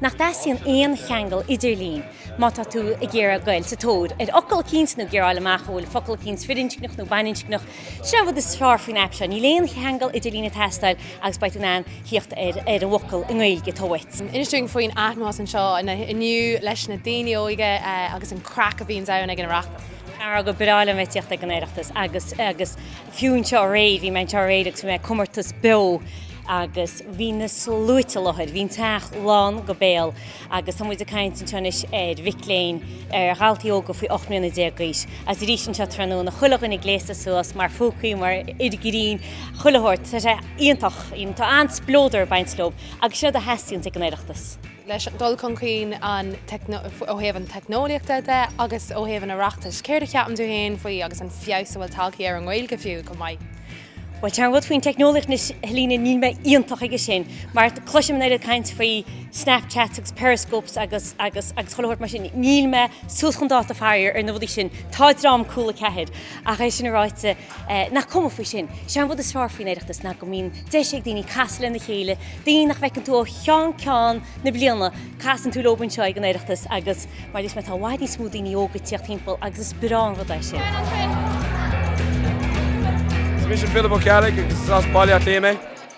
nach dteastaíonn aon cheangal idirlín má tá tú ag iarraidh gabháil sa tóir ar fhocal eicínt nó figiúráil amach an bhfuil focal eicínt firinscneach nó baininscneach. Sin é an rud is fearr faoin aip seo, níl aon cheangal idirlín ag teastáil agus beidh tú in ann thíocht ar an bhfocal i nGaeilge atá uait. Inis dúinn faoin atmaisféar anseo inniu leis na daoine óige agus an craic a bhíonns ann ag an Oireachtas. Ara go breá a bheith ag tíocht ag an Oireachtas agus fiú anseo aréir, bhí mé anseo aréir agus bhí mé ag comórtas beo agus bhí na sluaite i láthair, bhí an teach lán go béal agus tá muid ag caint anseo anois ar mhic léinn, ar dhaltaí óga faoi ocht mbliana déag d'aois agus arís anseo tráthnóna, chuile dhuine gléasta suas mar phúcaí, mar fhir grinn, chuile shórt, tá sé iontach, tá an-spleodar ag baint leo agus sin rud a theastaíonns ag an Oireachtas. leis an dul chun cinn ó thaobh an teicneolaíochta de agus ó thaobh an Oireachtais. Céard a cheapann tú féin faoi agus an feabhas a bhfuil tagtha ar an nGaeilge fiú chomh maith? Bhuel, sé an rud faoin teicneolaíocht anois, a Helena, níl mé iontach aige sin, mar cloisim an oiread caint faoi Snapchats agus Periscopes agus agus chuile shórt mar sin, níl mé suas chun dáta, faraor, ar na rudaí sin. Tá dream Cúla 4! Ach é sin ráite. Nach cuma faoi sin? Is é an rud is fearr faoin Oireachtas ná go mbíonn deis ag daoine casadh lena chéile, daoine nach bhfeiceann tú ó cheann ceann na bliana. Casann tú leo anseo ag an Oireachtas agus mar a deir mé, tá i bhfad níos mó daoine óga ag tíocht thimpeall agus is breá an rud é sin. Is mise Philip Ó Ceallaigh agus is as Baile Átha Cliath mé.